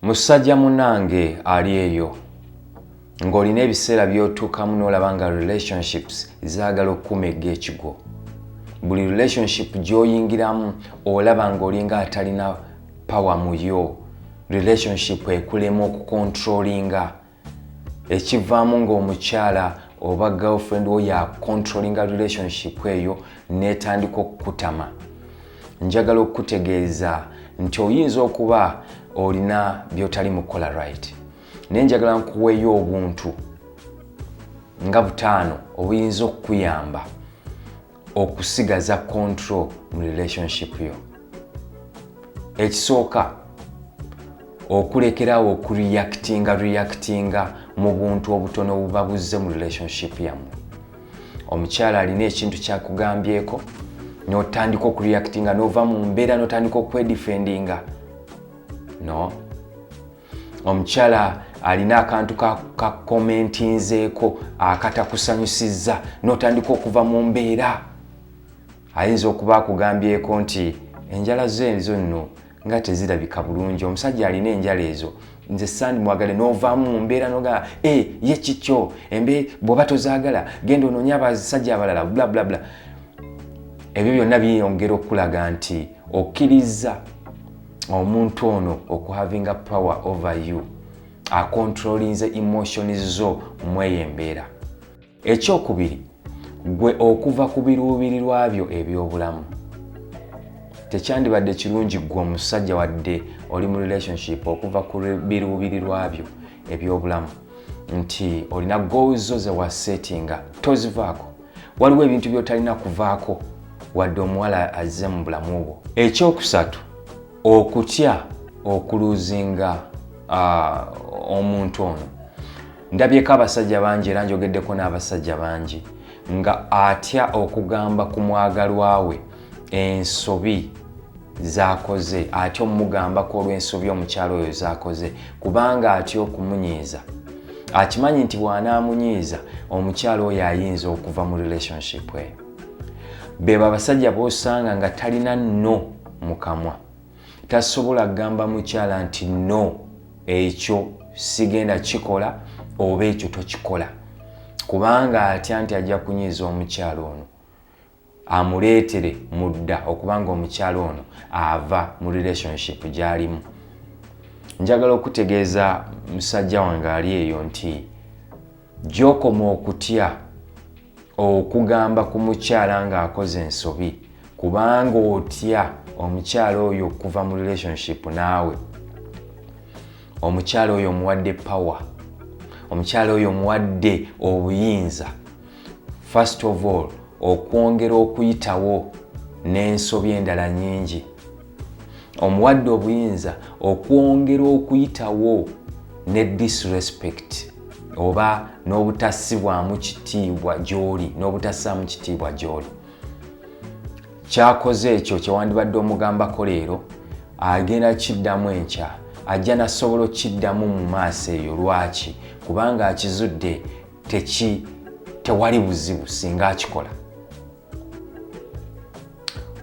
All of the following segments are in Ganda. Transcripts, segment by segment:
Musaja munange ali eyo ng'olina ebiseera by'otuukamu n'olaba nga relationships zaagala okukuma egg'ekigwo buli relationship gy'oyingiramu olaba ng'olinga atalina pawa mu yo relationship ekulema okukontrolinga ekivaamu ng'omukyala oba girlfriend wo ya controllinga relationship eyo n'etandika okukutama njagala okukutegeeza nti oyinza okuba olina by'otali mu kola right naye njagala nkuweeyo obuntu nga butaano obuyinza okukuyamba okusigaza control mu relationship yo ekisooka okulekerawo okureactinga reactinga mu buntu obutono obuba buzze mu relationship yammwe omukyala alina ekintu kyakugambyeko notandika okureactinga nova mu mbeera notandika okwedifendinga no omukyala alina akantu kakomentinzeeko akatakusanyusizza notandika okuva mu mbeera ayinza okuba akugambyeko nti enjala zo ezo nno nga tezirabika bulungi omusajja alina enjala ezo nze sandi mwagale novaamu mu mbeera nogaa e eh, ye kikyo embe bwoba tozaagala genda onoonya abasajja abalala blablabla ebyo byonna biyongera okukulaga nti okkiriza omuntu ono okuhavinga power over you akontrolinze emotions zo mweyo embeera ekyokubiri gwe okuva ku biruubirirwa byo ebyobulamu tekyandibadde kirungi gwe omusajja wadde oli mu relationship okuva ku biruubirirwa byo ebyobulamu nti olina gozo zewasetinga tozivaako waliwo ebintu by'otalina kuvaako wadde omuwala azze mu bulamu bwo ekyokusatu okutya okuluzinga omuntu ono ndabyeko abasajja bangi era njogeddeko n'abasajja bangi nga atya okugamba ku mwagalwa we ensobi zakoze atya omumugambako olwensobi omukyalo oyo zakoze kubanga atya okumunyiiza akimanyi nti bwanaamunyiiza omukyalo oyo ayinza okuva mu relationship eyo beba abasajja bosanga nga talina no mukamwa tasobola kugamba mukyala nti no ekyo sigenda kikola oba ekyo tokikola kubanga atya nti ajja kunyiiza omukyalo ono amuleetere mudda okubanga omukyala ono ava mu relationship gy'alimu njagala okutegeeza musajja wange ali eyo nti gyokoma okutya okugamba ku mukyala ng'akoze ensobi kubanga otya omukyala oyo okuva mu relationship naawe omukyala oyo omuwadde power omukyala oyo omuwadde obuyinza first of all okwongera okuyitawo n'ensobi endala nyingi omuwadde obuyinza okwongera okuyitawo ne disrespect oba n'obutassibwamu kitiibwa gy'oli n'obutassaamu kitiibwa gy'oli kyakoze ekyo kyewandibadde omugambako leero agenda kiddamu enkya ajja nasobola okukiddamu mu maaso eyo lwaki kubanga akizudde teki tewali buzibu singa akikola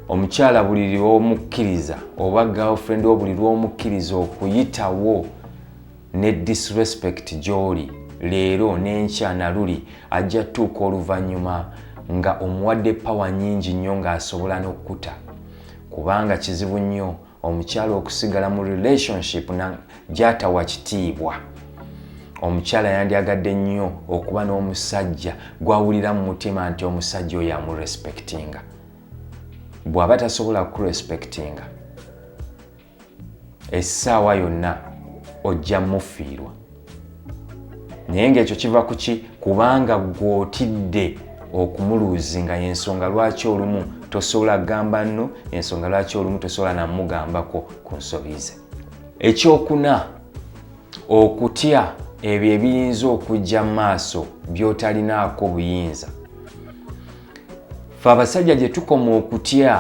omukyala buli lwomukkiriza oba girlfriend wo buli lwomukkiriza okuyitawo ne disrespect gyoli leero n'enkya naluli ajja tuuka oluvannyuma nga omuwadde pawa nyingi nnyo ng'asobola n'okukuta kubanga kizibu nnyo omukyala okusigala mu relationship gyatawa kitiibwa omukyala yandyagadde nnyo okuba n'omusajja gwawulira mu mutima nti omusajja oyo amurespectinga bw'aba tasobola kurespectinga essaawa yonna ojja mufiirwa naye ngaekyo kiva kuki kubanga gwotidde okumuluuzinga yensonga lwaki olumu tosobola kugamba nno ensonga lwaki olumu tosobola namugambako ku nsobi ze ekyokuna okutya ebyo ebiyinza okujja mu maaso byotalinaako buyinza fe abasajja gye tukoma okutya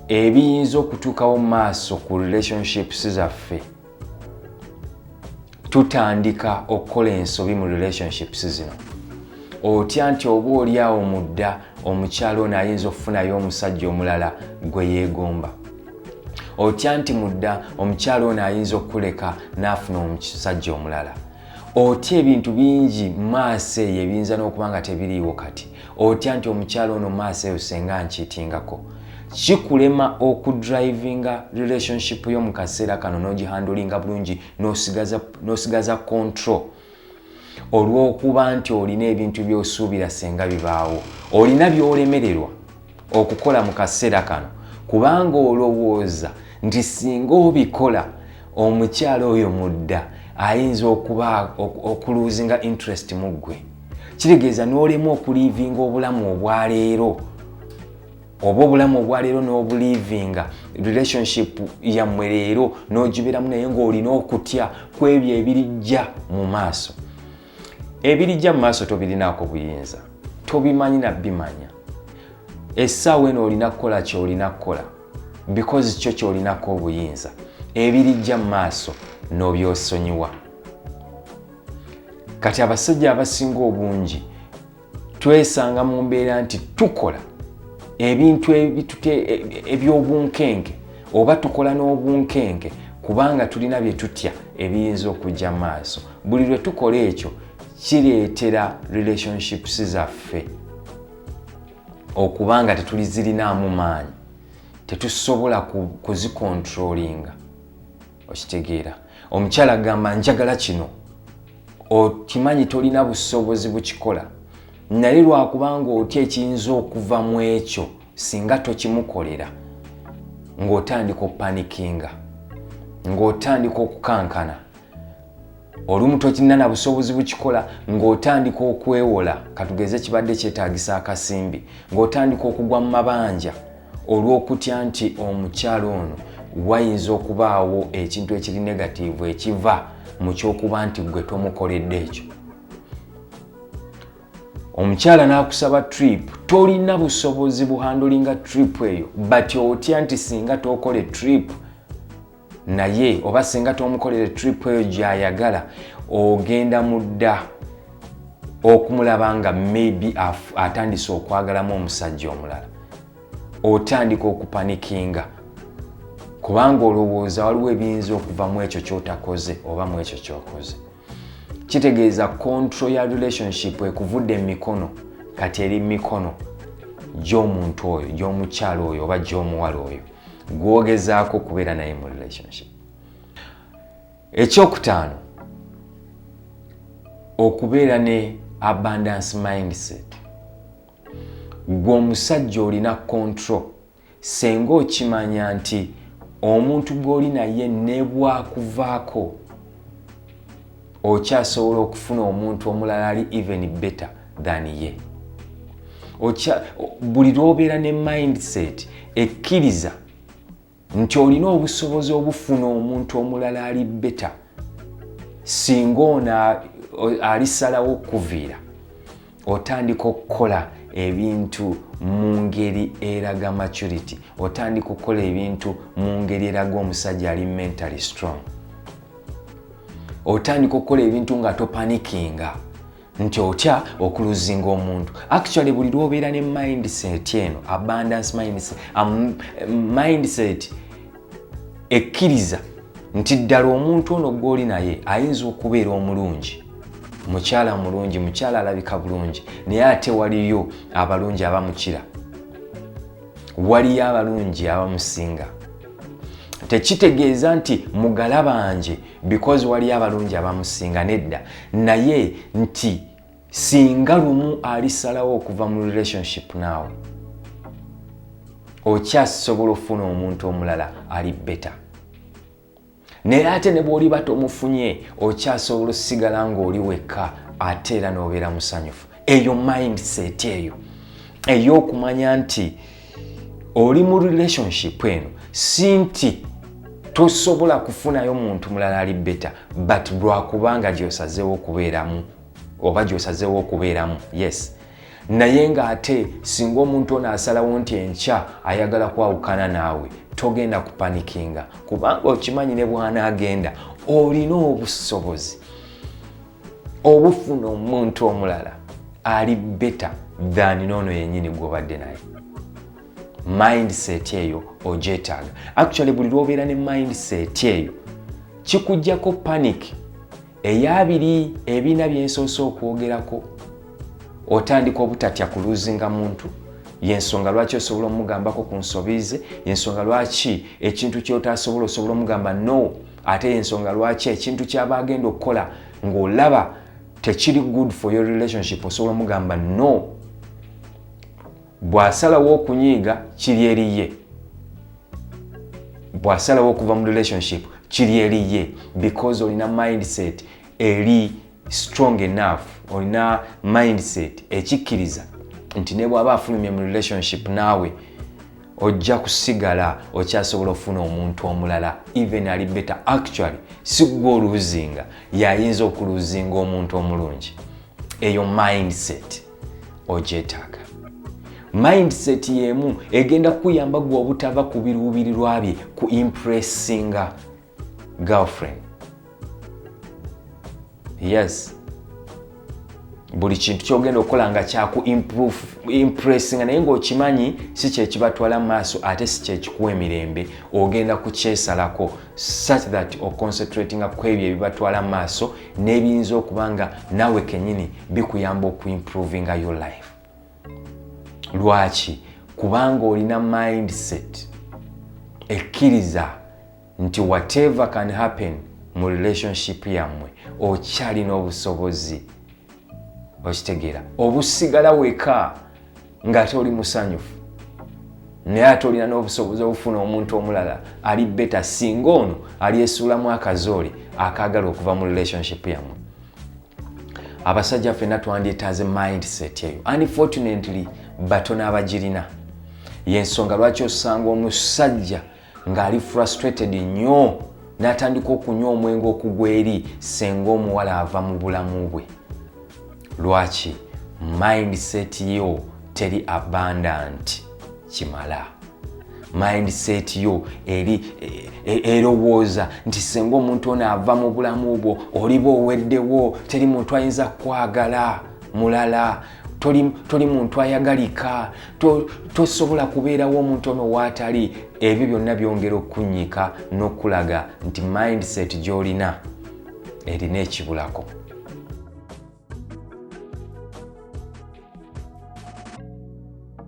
ebiyinza okutuukawo mu maaso ku relationships zaffe tutandika okukola ensobi mu relationships zino otya nti oba oli awo mudda omukyalo ono ayinza okufunayo omusajja omulala gwe yeegomba otya nti mudda omukyalo ono ayinza okukuleka n'afuna omusajja omulala otya ebintu bingi maaso eyo ebiyinza n'okuba nga tebiriiwo kati otya nti omukyalo ono maaso eyo senga nkyitingako kikulema okudrivinga relationship yo mu kaseera kano n'ogihandulinga bulungi n'osigaza control olw'okuba nti olina ebintu by'osuubira senga bibaawo olina by'olemererwa okukola mu kaseera kano kubanga olowooza nti singa obikola omukyala oyo mudda ayinza okuba okuluzinga interest mu ggwe kitegeeza n'olemu okuliivinga obulamu obwaleero oba obulamu obwaleero n'obuliivinga relationship yammwe leero n'ogiberamu naye ng'olina okutya ku ebyo ebirijja mu maaso ebirijja mu maaso tobirinaako buyinza tobimanyi nabimanya essaawa eno olina kukola kyolina kukola bikozi kyo kyolinako obuyinza ebirijja mu maaso n'obyosonyiwa kati abasajja abasinga obungi twesanga mu mbeera nti tukola ebintu eby'obunkenge oba tukola n'obunkenge kubanga tulina bye tutya ebiyinza okujja maaso buli lwe tukola ekyo kireetera relationships zaffe okuba nga tetulizirinaamu maanyi tetusobola kuzikontrolinga okitegeera omukyala agamba njagala kino okimanyi tolina busobozi bukikola naye lwakubanga otya ekiyinza okuva mu ekyo singa tokimukolera ng'otandika opanikinga ng'otandika okukankana olumu tokirina na busobozi bukikola ng'otandika okwewola katugeze kibadde kyetagisa akasimbi ng'otandika okugwa mu mabanja olw'okutya nti omukyala ono wayinza okubaawo ekintu ekiri negatiivu ekiva mu ky'okuba nti gwe tomukoledde ekyo omukyala n'akusaba trip tolina busobozi buhandulinga trip eyo but otya nti singa tokola trip naye oba singa tomukolere trip eyo gyayagala ogenda mudda okumulaba nga maybe atandise okwagalamu omusajja omulala otandika okupanikinga kubanga olowooza waliwo ebiyinza okuva mu ekyo kyotakoze oba mu ekyo kyokoze kitegeeza control ya relationship ekuvudde mu mikono kati eri mumikono gy'omuntu oyo gy'omukyalo oyo oba gy'omuwala oyo gwogezaako okubeera naye mu relationship ekyokutaano okubeera ne abundance mindset gwe omusajja olina control Ssenga okimanya nti omuntu gw'oli naye nebwakuvaako okyasobola okufuna omuntu omulala ali even better than ye buli lwobeera ne mindset ekkiriza nti olina obusobozi obufuna omuntu omulala ali better singa ono alisalawo okuviira otandika okukola ebintu mu ngeri eraga maturity otandika okukola ebintu mu ngeri eraga omusajja ali mentally strong otandika okukola ebintu nga topanikinga nti otya okuluzinga omuntu actually buli lwobeera ne mindset eno abundance mindset, um, mindset ekkiriza nti ddala omuntu ono gw'oli naye ayinza okubeera omulungi mukyala mulungi mukyala alabika bulungi naye ate waliyo abalungi abamukira waliyo abalungi abamusinga tekitegeeza nti mugala banje because waliyo abalungi abamusinga nedda naye nti singa lumu alisalawo okuva mu relationship naawe okyasobola okufuna omuntu omulala ali beta naye ate ne bwoliba tomufunye okyasobola osigala ngaoli wekka ate era nobeera musanyufu eyo mindset eyo ey'okumanya nti oli mu relationship eno si nti tosobola kufunayo muntu mulala ali beta but lwakubanga gyosazeewo okubeeramu oba gyosazeewo okubeeramu yes naye ng'ate singa omuntu ono asalawo nti enkya ayagala kwawukana naawe togenda kupanikinga kubanga okimanyi ne bwanaagenda olina obusobozi obufuna omuntu omulala ali beta than noono yenyini gwobadde naye mindset eyo ojetaaga actually buli lwobeera ne mindset eyo kikujjako panic eyabiri ebiina byensoose okwogerako otandika obutatya kuluzinga muntu yensonga lwaki osobola omugambako ku nsobi ze yensonga lwaki ekintu kyotasobola osobola omugamba no ate yensonga lwaki ekintu kyaba agenda okukola ngaolaba tekiri good for your relationship osobola omugamba no bw'asalawo okunyiiga kiri eri ye bw'asalawo okuva mu relationship kiri eri ye because olina mindset eri strong enough olina mindset ekikkiriza nti ne bw'aba afulumye mu relationship naawe ojja kusigala okyasobola okufuna omuntu omulala even ali better actually si gwe oluuzinga yayinza okuluuzinga omuntu omulungi eyo mindset ogyetaaga mindset yemu egenda kukuyamba gwe obutava ku biruubirirwa bye ku impressinga girlfriend yes buli kintu kyogenda okukola nga kyaku impressinga naye ngaokimanyi si kyekibatwala mu maaso ate si kyekikuwa emirembe ogenda kukyesalako such that oconcentratinga ku ebyo ebibatwala mu maaso n'ebiyinza okuba nga naawe kenyini bikuyamba okuimprovinga your life lwaki kubanga olina mindset ekkiriza nti whatever can happen mu relationship yammwe okyalina obusobozi okitegeera obusigala weka ng'ate oli musanyufu naye ate olina n'obusobozi obufuna omuntu omulala ali beta singa ono alyesuulamu akazoole akaagala okuva mu relationship yammwe abasajja fenna twandyetaaze mindset eyo unfortunately batono abagirina yensonga lwaki osanga omusajja ng'ali frustrated nnyo n'atandika okunywa omwenge okugwa eri senga omuwala ava mu bulamu bwe lwaki mindset yo teri abundant kimala mindset yo eri e, e, erowooza nti senga omuntu ono ava mu bulamu bwo oliba oweddewo teri muntu ayinza kukwagala mulala toli, toli muntu ayagalika tosobola to kubeerawo omuntu ono waatali ebyo byonna byongera okukunyika n'okulaga nti mindset gy'olina erina ekibulako